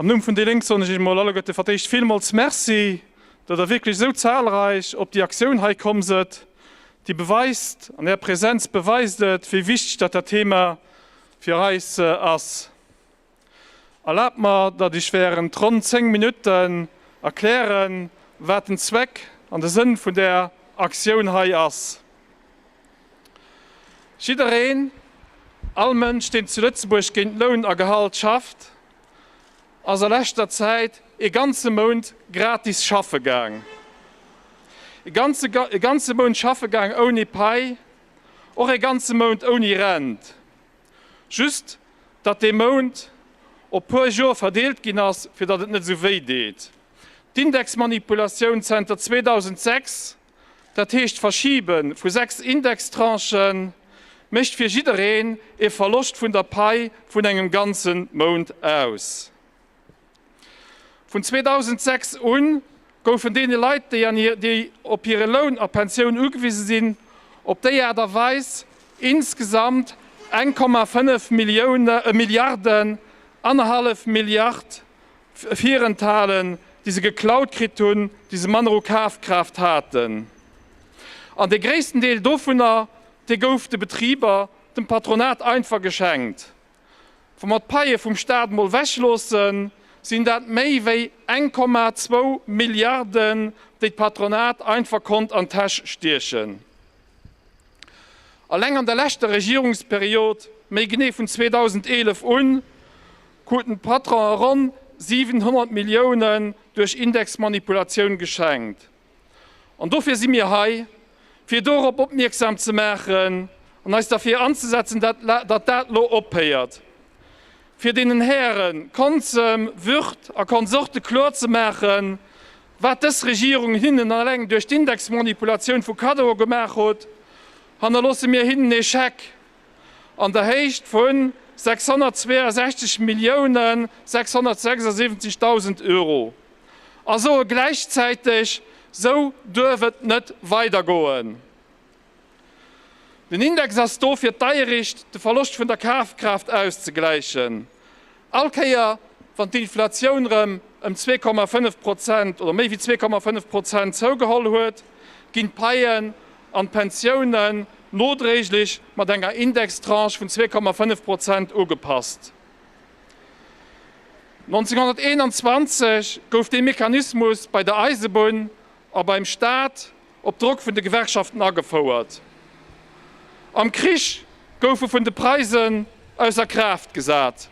Am Numm vun déi Lénk soen ech iech emol alleguerte fir d'éischt villmools Merci, datt der wierklech esou zahlreich op déi Aktioun hei komm sëtt. Déi beweist, an är Präsenz beweist et, wéi wichteg datt dat Thema fir eis ass. Erlaabt mer, datt ech während ronn 10 Minutten erklären, wat den Zweck an de Sënn vun där Aktioun hei ass. Jiddereen, all Mënsch, deen zu Lëtzebuerg géint Loun a Gehalt schafft, ass a leschter Zäit ee ganze Mount gratis schaffe gaang. Ee ganze, ee ganze Mount schaffe gaang ouni Pai, och ee ganze Mount ouni Rent. Just, datt dee Mount op puer Jor verdeelt ginn ass, fir datt et net esou wéi deet. D'Indexmanipulatioun zenter 2006 Dat heescht, d'Verschiebe vu sechs Indextranchë mécht fir jiddereen ee Verloscht vun der Pai vun engem ganze Mount aus. Vun 2006 u goufen deene Leit, déi op hire Loun a Pensioun ugewise sinn, op déi Aart a Weis insgesamt eng Komma fënnef Milliarden, annerhallef Milliard, virenthalen, déi se geklaut kritt hunn, déi se manner u Kafkraaft haten. An dee gréissten Deel dovunner, dee gouf de Betriber, dem Patronat einfach geschenkt. Wa mer d'Paie vum Stat emol wechloossen, sinn dat méi wéi 1,2 Milliarden, déi d'Patronat einfach konnt an d'Täsch stiechen. Alleng an der leschter Regierungsperiod, méi genee vun 2011 un, kruten d'Patronen ronn 700 Milliounen duerch Indexmanipulatioun geschenkt. An dofir si mir hei, fir dorop opmierksam ze maachen an eis derfir anzesetzen, datt dat elo ophéiert. Fir deenen Häre Konsem, Würth a Konsorte kloer ze maachen, wat dës Regierung hinnen eleng duerch d'Indexmanipulatioun vu Kaddoe gemaach hutt, hannerloosse mir hinnen ee Scheck an der Héicht vu 662 Millioune 676.000 Euro a soe gläichzäiteg, Sou duerf et net weidergoen. Den Index ass do fir d'Deiericht, de Verloscht vun der Kafkraaft auszegläichen, All Kéier, wann d'Inflatioun rëm ëm zwee Komma fënnef Prozent oder méi wéi zwee Komma fënnef Prozent zougeholl huet, ginn d'Paien an d'Pensiounen nodréiglech mat enger Indextranche vun zwee Komma fënnef Prozent ugepasst. 1921 gouf dee Mechanismus bei der Eisebunn a beim Staat op Drock vun de Gewerkschaften agefouert. Am Krich goufe vun de Preisen ausser Kraaft gesat.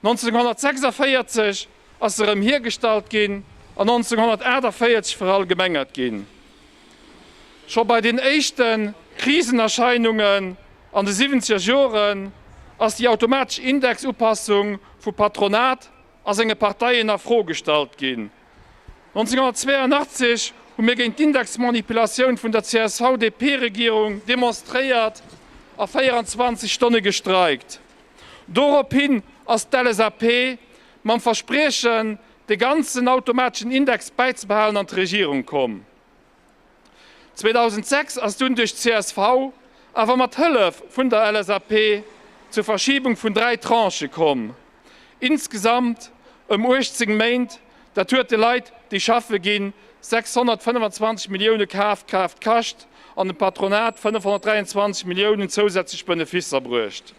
1946 ass se erëm hiergestallt ginn an 1948 verallgemengert ginn. Scho bei den éischte Krisenerscheinungen an de siwwenzeger Joren ass déi automatesch Indexupassung vu Patronat a senge Parteien a Fro gestallt ginn. 1982 hu mir géint d'Indexmanipulatioun vun der CSV-DP-Regierung demonstréiert a 24 Stonne gestreikt. Dorophin ass d'LSAP mam Verspriechen, de ganzen automateschen Index bäizebehalen an d'Regierung komm. 2006 ass dunn duerch csv, awer mat Hëllef vun der LSAP, zur Verschiebung vun dräi Tranchë komm, insgesamt ëm 18 Méint. Dat huet de Leit, déi schaffe ginn, 625 Millioune Kafkraaft kascht an dem Patronat 523 Milliounen zousätzlech Beneficer bruecht.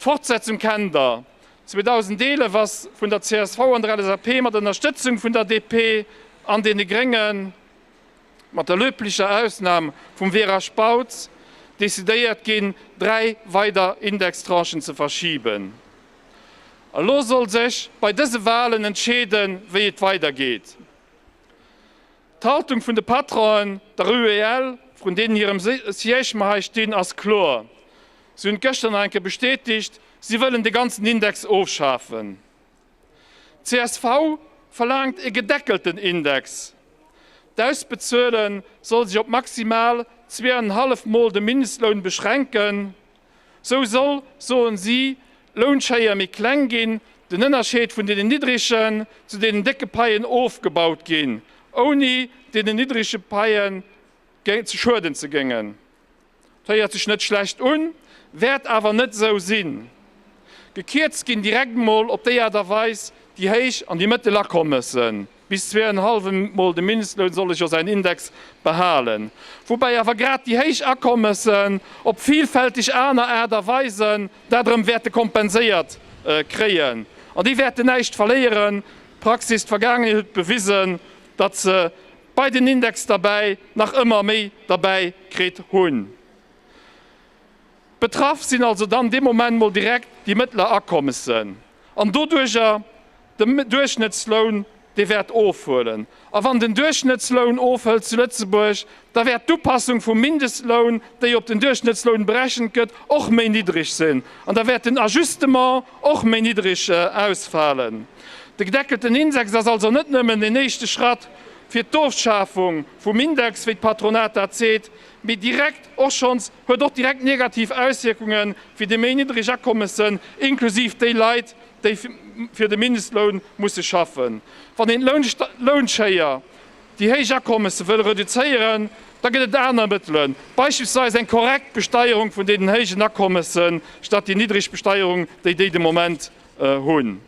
D'Fortsetzung kennt der. 2011 ass vun der csv an der LSAP mat Ënnerstëtzung vun der DP an deene Gréngen, mat der löblicher Ausnam vum Vera Spautz, decidéiert ginn, dräi weider Indextranchen ze verschiben. Elo soll sech bei dëse Walen entscheeden, wéi et weidergeet. D'Haltung vun de Patronen, der UEL, vrun deenen hirem Siège mer hei stinn, ass kloer. Si hunn et gëschter nach eng Kéier bestätegt, si wëllen de ganzen Index ofschafen. Csv verlaangt e gedeckelten Index. D'Ausbezuele soll sech op maximal zwee an en hallef Mol de Mindestloun beschränken. Sou soll, soen si, d'Lounschéier méi kleng ginn, den Ënnerscheed vun deenen niddregen zu deenen décke Paien ofgebaut ginn, ouni deenen niddrege Paie schueden ze géngen. Héiert sech net schlecht un, wäert awer net esou sinn. Gekierzt ginn direkt mol op déi Aart a Weis déi Héich an déi Mëttel Akommessen. Bis zwee en hallwen mol de Mindestloun solle jo säin Index behalen. Woubäi awer grad déi héich Akommessen op vilfälteg aner Aart a Weisen dat erëm wäerte kompenséiert kréien. An déi wäerten näischt verléieren. D'Praxis, d'Vergaangenheet huet bewisen, datt se bei den Index derbäi nach ëmmer méi derbäi kritt hunn. Betraff sinn also dann dee Moment mol direkt déi mëttler Akommessen an doduerger de Duerchschnëttsloun, dee wäert ofhuelen. A wann den Duerchschnëttsloun ofhëlt zu Lëtzebuerg, da wäert d'Upassung vum Mindestloun, déi op den Duerchschnëttsloun berechent gëtt, och méi niddreg sinn an da wäert den Ajustement och méi niddreg ausfalen. De gedeckelten Index ass also net nëmmen en éischte Schratt fir d'Ofschafung vum Index, wéi d'Patronat dat seet. Mee direkt och schonns huet och direkt negativ Auswierkunge fir déi méi niddreg Akommessen, inklusiv déi Leit, déi fir de Mindestloun musse schaffen. Wann een d'Lounschéier, déi héich Akommesse wëll reduzéieren, da gëtt et aner Mëttelen, beispillsweis eng korrekt Besteierung vun deenen héijen Akommessen, statt déi niddreg Besteierung, déi déi de Moment hunn.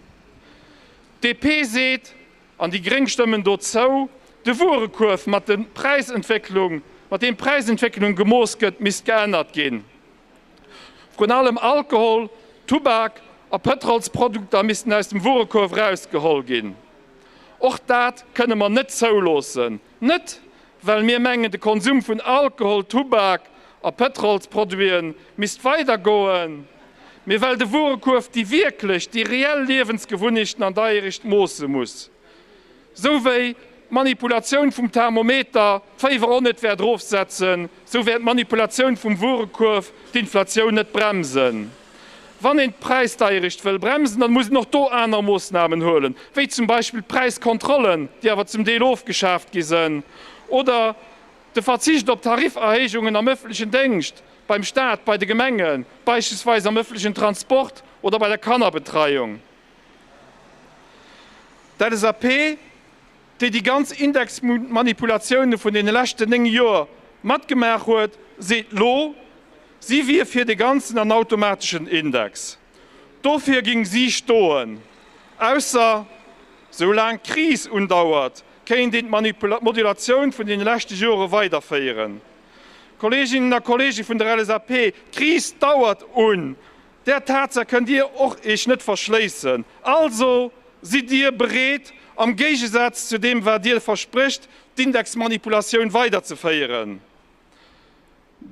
D'DP seet, An déi gréng stëmmen dozou. De Wuerekuerf, mat de Präisentwécklung, mat deem d'Präisentwécklung gemooss gëtt, misst geännert ginn. Vrun allem Alkohol, Tubak a Pëtrolsprodukter missten aus dem Wuerekuerf erausgeholl ginn. Och dat kënne mer net zouloossen. Net well mir mengen de Konsum vun Alkohol, Tubak a Pëtrolsproduite misst weider goen, mee well de Wuerekuerf déi wierklech, déi reell Liewensgewunnechten an der Aericht moosse muss. Sou wéi d'Manipulatioun vum Thermometer d'Féiwer och net wäert erofsetzen, sou wäert d'Manipulatioun vum Wuerekuerf d'Inflatioun net bremsen. Wann een d'Präisdeierecht wëll bremsen, dann muss een och do aner Moosnamen huelen, wéi zum Beispill d'Präiskontrollen, déi awer zum Deel ofgeschaaft gi sënn, oder de Verzicht op Tarifferhéijungen am öffentlechen Déngscht, beim Staat, bei de Gemengen, beispillsweis am öffentlechen Transport oder bei der Kannerbetreiung. D'LSAP. déi déi ganz Indexmanipulatiounen vun deene leschten 9 Joer matgemaach huet, seet lo, si wier fir de ganzen an automateschen Index. Dofir géing si stoen. Ausser, sou laang d'Kris undauert, kéint een d'Manipulatioun vun deene leschte Jore weiderféieren. Kolleeginnen a Kolleege vun der LSAP, d'Kris dauert un! Där Tatsaach kënnt Dir och Iech net verschléissen. Also, sidd Dir bereet, am Géigesaz zu deem wat Dir versprécht, d'Indexmanipulatioun weiderzeféieren?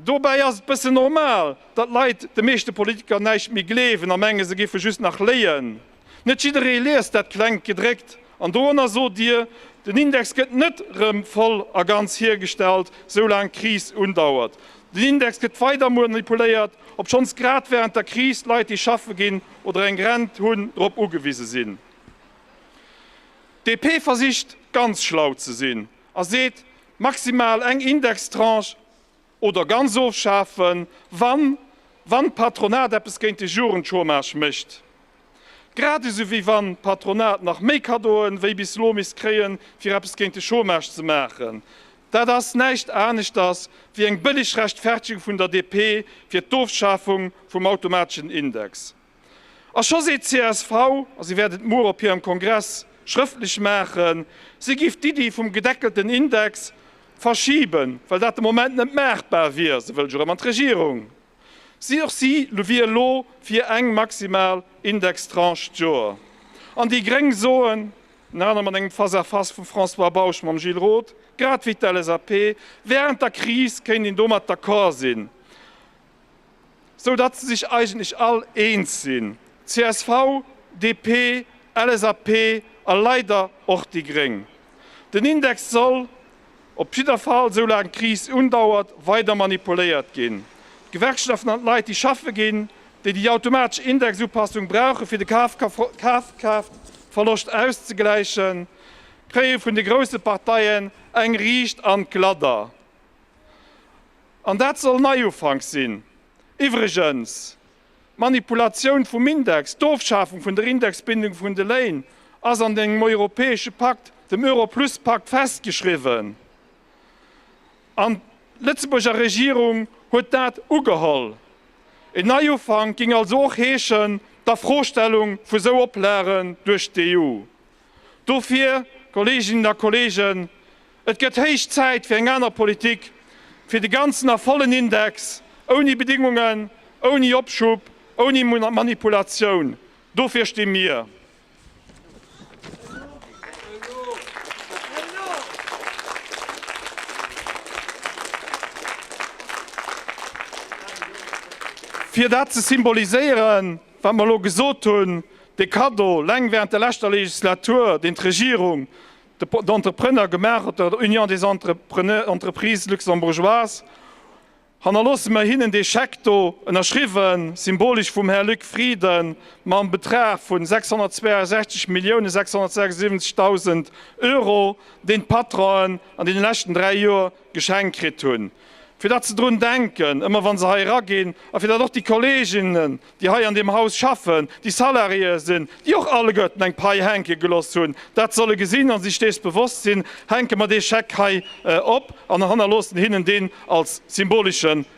Dobäi ass et bëssen normal, datt Leit de meeschte Politiker näischt méi gleewen a menge se géife just nach léien. Net jidderee liest dat klengt Gedréckt an doranner sot Dir, Den Index gëtt net rëm voll a ganz hiergestallt, soulaang d'Kris undauert. Den Index gëtt weider manipuléiert, obschonns grad wärend der Kris Leit, déi schaffe ginn oder eng Rent hunn, drop ugewise sinn. D'DP versicht ganz schlau ze sinn a seet, maximal eng Indextranche. Oder ganz ofschafen, wann wann d'Patronat eppes géint de Jugendchômage mécht. Grad esou wéi wann d'Patronat nach méi Kaddoen wéi bis elo misst kréien, fir eppes géint de Chômage ze maachen. Dat ass näischt aneschters wéi eng bëlleg Rechtfertigung vun der DP fir d'Ofschafung vum automateschen Index. A scho seet csv, a si wäert et muer op hirem Kongress schrëftlech maachen, si géif d'Iddi vum gedeckelten Index verschiben, well dat de Moment net maachbar wier. Se wëll jo erëm an d'Regierung. Si och si wier elo fir eng maximal Indextranche d'Joer. An déi gréng soen, ënner anerem an engem Face-à-Face vum François Bausch mam Gilles Roth, grad wéi d'LSAP, wärend der Kris kéint een domat d'accord sinn. sou datt se sech eigentlech all eens sinn, csv, DP, LSAP a leider och déi Gréng. Den Index soll op jidder Fall, sou laang d'Kris undauert, weider manipuléiert ginn. D'Gewerkschaften an d'Leit déi schaffe ginn, déi déi automatesch Indexupassung brauchen, fir de Kafkraaftverloscht auszegläichen, kréie vun de grousse Parteien eng riicht an d'Gladder. An dat soll Neiufank sinn. Iwwregens, d'Manipulatioun vum Index, d'Ofschafung vun der Indexbindung vun de Léin ass an engem europäesche Pakt, dem Euro-Plus-Pakt, festgeschriwwen. An d'Lëtzebuurger Regierung huet dat ugeholl. En Neiufank géing also och heeschen, d'Afrostellung vu sou Oplagen duerch d'EU. Dofir, Kolleeginnen a Kolleegen, et gëtt héich Zäit fir eng aner Politik, fir de ganzen a vollen Index, ouni Bedingungen, ouni Opschub, ouni Manipulatioun. Dofir sti mir. Fir dat ze symboliséieren, wat mer elo gesot hunn, dee Cadeau, eleng während der leschter Legislatur, deen d'Regierung den Entrepreneur gemaach huet, der Union des Entreprises luxembourgeoises, hannerloosse mer hinnen dee Scheck do, ënnerschriwwen symbolesch vum Här Luc Frieden, mam Betrag vun 662.676.000 Euro, deen d'Patronen an deene leschten dräi Joer Geschenk kritt hunn, fir datt se drun denken, ëmmer wa se hei eraginn, a fir datt och déi Kolleginnen, déi hei an deem Haus schaffen, déi Salariéeë sinn, déi och alleguerten eng Pai hänke geloss hunn, dat solle gesinn a sech dees bewosst sinn, hänke mer dee Scheck hei op an hannerloossen hinnen deen als symbolische